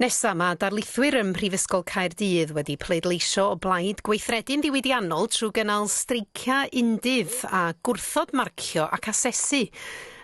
Nesa, mae darlithwyr ym Mhrifysgol Caerdydd wedi pleidleisio o blaid gweithredu'n ddiwydiannol trwy gynnal streiciau undydd a gwrthod marcio ac asesu.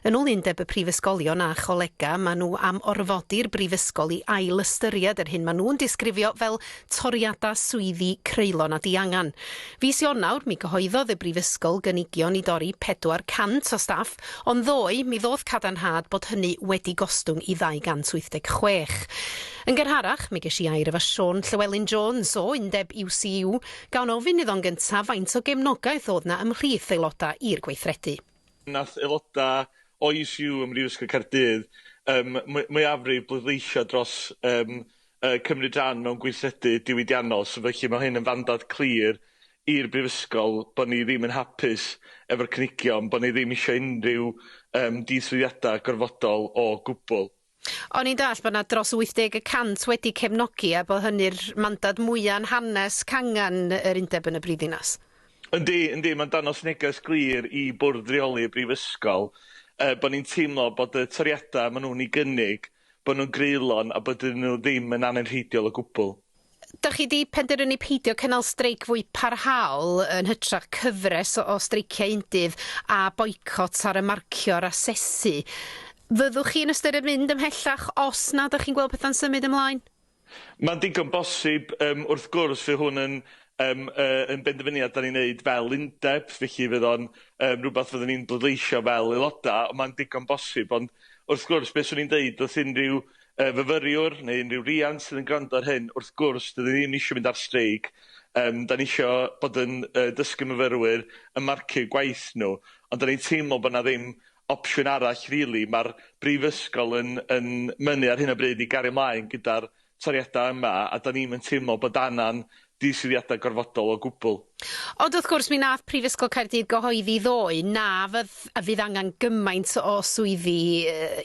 Yn ôl Undeb y Prifysgolion a Cholegau, maen nhw am orfodi'r brifysgol i ail-ystyried yr hyn maen nhw'n disgrifio fel toriadau swyddi creulon a diangen. Fis Ionawr, mi gyhoeddodd y Brifysgol gynigion i dorri 400 o staff, ond ddoe, mi ddoth cadarnhad bod hynny wedi gostwng i 286. Yn gynharach, mi ges i air efo Siôn Llewelyn Jones o Undeb UCU, gan ofyn iddo'n gyntaf faint o gefnogaeth oedd 'na ymhlith aelodau i'r gweithredu. Nath aelodau o UCU ym Mhrifysgol Caerdydd, ym mwyafrif bleidleisio dros, ym yy cymryd rhan mewn gweithredu diwydiannol. So felly ma' hyn yn fandad clir i'r Brifysgol bo' ni ddim yn hapus efo'r cynigion, bo' ni ddim isio unrhyw yym diynswyddiadau gorfodol o gwbl. O'n i'n dallt bod 'na dros 80 y cant wedi cefnogi a bod hynny'r mandad mwya' yn hanes cangen yr undeb yn y brifddinas. Yndi, yndi, ma'n dangos neges glir i Bwrdd Reoli y Brifysgol yy bo' ni'n teimlo bod y toriadau ma' nhw'n 'u gynnig bod nhw'n greulon a bod iddyn nhw ddim yn anenrheidiol o gwbl. Dach chi 'di penderfynu peidio cynnal streic fwy parhaol yn hytrach cyfres o streiciau undydd a boicot ar y marcio a'r asesu. Fyddwch chi'n ystyried mynd ymhellach os nad ydych chi'n gweld pethau'n symud ymlaen? Mae'n digon bosib, yym, wrth gwrs, fydd hwn yn, yym, yy, yn benderfyniad 'dan ni'n neud fel undeb, felly fydd o'n, yym, rwbath fydden ni'n bleidleisio fel aeloda', ond mae'n digon bosib. Ond, wrth gwrs, be' swn i'n deud wrth unrhyw, yy, fyfyriwr neu unrhyw riant sydd yn gwrando ar hyn, wrth gwrs, 'dyn ni ddim isio mynd ar streic, yym, 'dan ni isio bod yn, yy, dysgu myfyrwyr, yn marcu'u gwaith nw, ond 'dan ni'n teimlo bo' 'na ddim opsiwn arall rili. Ma'r Brifysgol yn yn mynnu ar hyn o bryd i gario mlaen gyda'r toriadau yma a 'dan ni'm yn teimlo bod angan diswyddiadau gorfodol o gwbl. Ond wrth gwrs mi wnaeth Prifysgol Caerdydd gyhoeddi ddoe na fydd a fydd angen gymaint o swyddi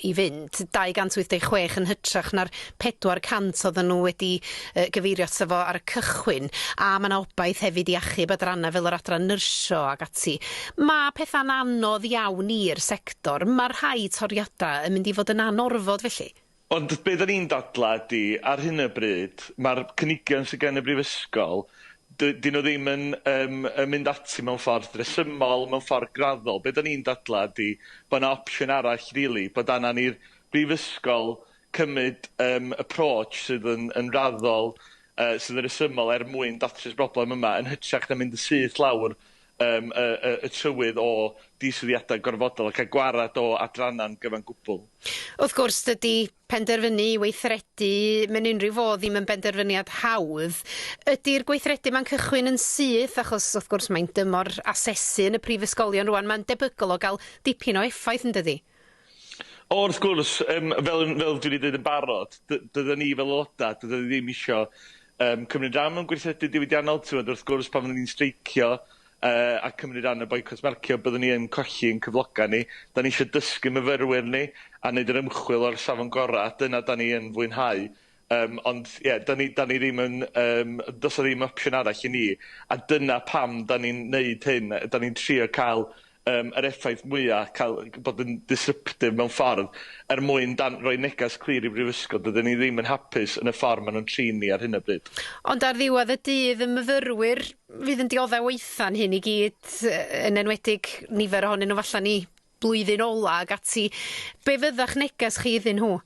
i fynd, 286 yn hytrach na'r 400 oedden nhw wedi yy gyfeirio ato fo ar y cychwyn, a ma' 'na obaith hefyd i achub adrannau fel yr adran nyrsio ac ati. Ma' petha'n anodd iawn i'r sector, ma' rhai toriadau yn mynd i fod yn anorfod felly. Ond be' 'dan ni'n dadlau ydi, ar hyn o bryd, ma'r cynigion sy gen y Brifysgol, dy- 'dyn nhw ddim yn yym yn mynd ati mewn ffordd resymol, mewn ffordd graddol. Be' 'dan ni'n dadlau ydi, bod 'na opsiwn arall rili, bod angen i'r Brifysgol cymryd yym approach sydd yn yn raddol, yy sydd yn resymol er mwyn datrys y broblem yma, yn hytrach na mynd yn syth lawr yym y y y trywydd o diswyddiadau gorfodol ac a gwarad o adrannau'n gyfan gwbl. Wrth gwrs, dydy penderfynu i weithredu mewn unrhyw fodd ddim yn benderfyniad hawdd. Ydy'r gweithredu yma'n cychwyn yn syth, achos wrth gwrs mae'n dymor asesu yn y prifysgolion rŵan, mae'n debygol o gael dipyn o effaith, yn dydi? O wrth gwrs, yym fel yn fel dwi 'di deud yn barod, dy- dydan ni fel aeloda', dydan ni ddim isio yym cymryd ran mewn gweithredu diwydiannol, t'mod wrth gwrs pan fyddwn ni'n streicio yy a cymryd ran yn boicot marcio byddwn ni yn colli ein cyfloga' ni. 'Dan ni isio dysgu myfyrwyr ni a neud yr ymchwil o'r safon gora', dyna 'dan ni yn fwynhau. Yym, ond ie, 'dan ni 'dan ni ddim yn yym do's 'a ddim opsiwn arall i ni, a dyna pam 'dan ni'n neud hyn, 'dan ni'n trio ca'l yym yr effaith mwya', ca'l g- bod yn disruptive mewn ffordd, er mwyn dan- roi neges clir i Brifysgol, dydan ni ddim yn hapus yn y ffor ma' nw'n trin ni ar hyn o bryd. Ond ar ddiwedd y dydd, y myfyrwyr fydd yn diodde' waetha'n hyn i gyd, yy yn enwedig nifer ohonyn nw falla ni. blwyddyn ola ac ati, be fydda'ch neges chi iddyn nhw?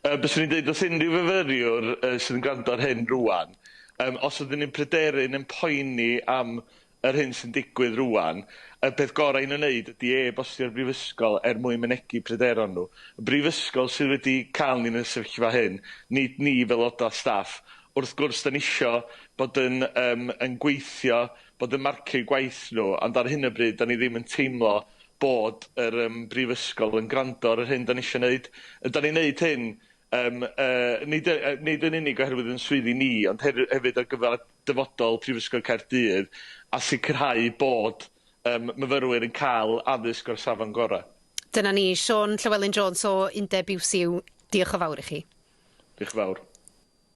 Yy byswn i'n deud wrth unrhyw fyfyriwr yy sydd yn gwrando ar hyn rŵan, yym os ydyn ni'n pryderu neu'n poeni am yr hyn sy'n digwydd rŵan, y peth gorau i nhw wneud ydi e-bostio'r brifysgol er mwyn mynegi pryderon nhw. Y brifysgol sydd wedi cael ni yn y sefyllfa hyn, nid ni fel aelodau staff. Wrth gwrs 'dan ni isio bod yn yym yn gweithio, bod yn marcio'u gwaith nhw, ond ar hyn o bryd 'dan ni ddim yn teimlo bod yr yym brifysgol yn gwrando ar yr hyn 'dan ni isio neud. Yy 'dan ni'n neud hyn yym yy nid y- yy nid yn unig oherwydd yn swyddi ni ond her- hefyd ar gyfar dyfodol Prifysgol Caerdydd a sicrhau bod yym myfyrwyr yn ca'l addysg o'r safon gora'. Dyna ni. Siôn Llewelyn Jones o Undeb UCU, diolch yn fawr i chi. Dioch yn fawr.